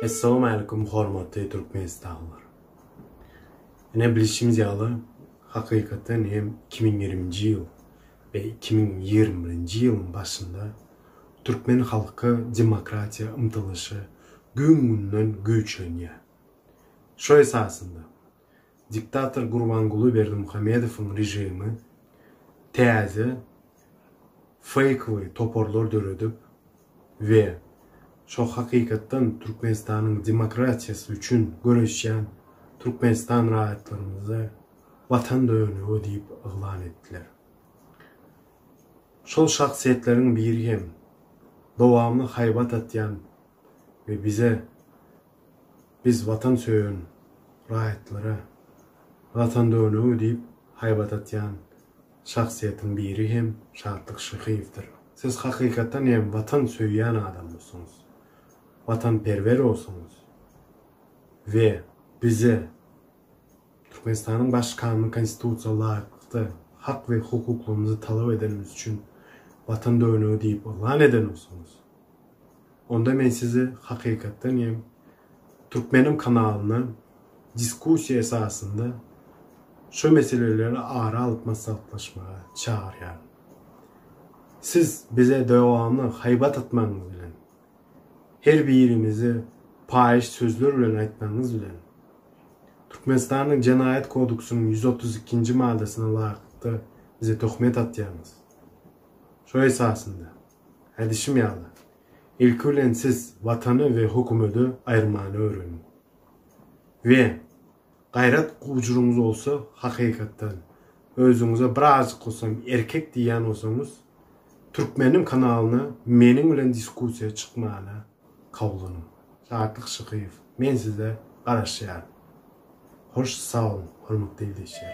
Essalamu Aleýkum hormatly Türkmenistanlylar. Ine bilişimiz ýaly hakykatdan hem iki müň ýigriminji ýyl we iki müň ýigrimi birinji ýylyň başynda türkmen halky demokratiýa ymtylyşy gün-günden güýçlenýär. Şo esasynda diktator Gurbanguly Berdimuhamedowyň režimi täze feýkowy toparlar döredip we şo hakykatdan Türkmenistanyň demokratiýasy üçin göreşýän Türkmenistan raýatlarymyzy Watan dönügi diýip yglan etdiler. Şol şahsyýetleriň biri hem dowamly haýbat atýan we bize Biz watan söýen raýatlara Watan döwlegi diýip haýbat atýan şahsyýetiň biri hem Şatlyk Şyhyýewdir. Siz hakykatdan hem watan söýýän adamdyrsyňyz, watanperwerowsyňyz we bize Türkmenistanyň Baş Kanuny Konstitusiýa laýyklykda hak we hukuklarymyzy talap edenimiz üçin Watan döwlegi diýip yglan edenowsyňyz. Onda men sizi hakykatdan hem Türkmenim kanalyndan diskussiýa esasynda şu meseleleri ara alyp maslahatlaşmaga çagyrýaryn. Siz bize dowamly haýbat atmagyňyz bilen, her birimize paýyş sözler bilen aýtmagyňyz bilen, Türkmenistanyň Jenaýat kodeksynyň ýüz otuz ikinji maddasyna laýyklykda bize töhmet atýaňyz. Şo esasynda. Hädişim ýaly, ilki bilen siz Watany we hökümedi aýyrmany öwreniň. We, gaýrat gujurňyz bolsa, hakykatdan, özüňize birazjyk bolsam erkek diýýän bolsaňyz, Türkmeniň kanalyna meniň bilen diskussiýa çykmana kawlanyň. Şatlyk Şykyýew, men size garaşýaryn. Hoş sagboluň, hormatly ildeşler!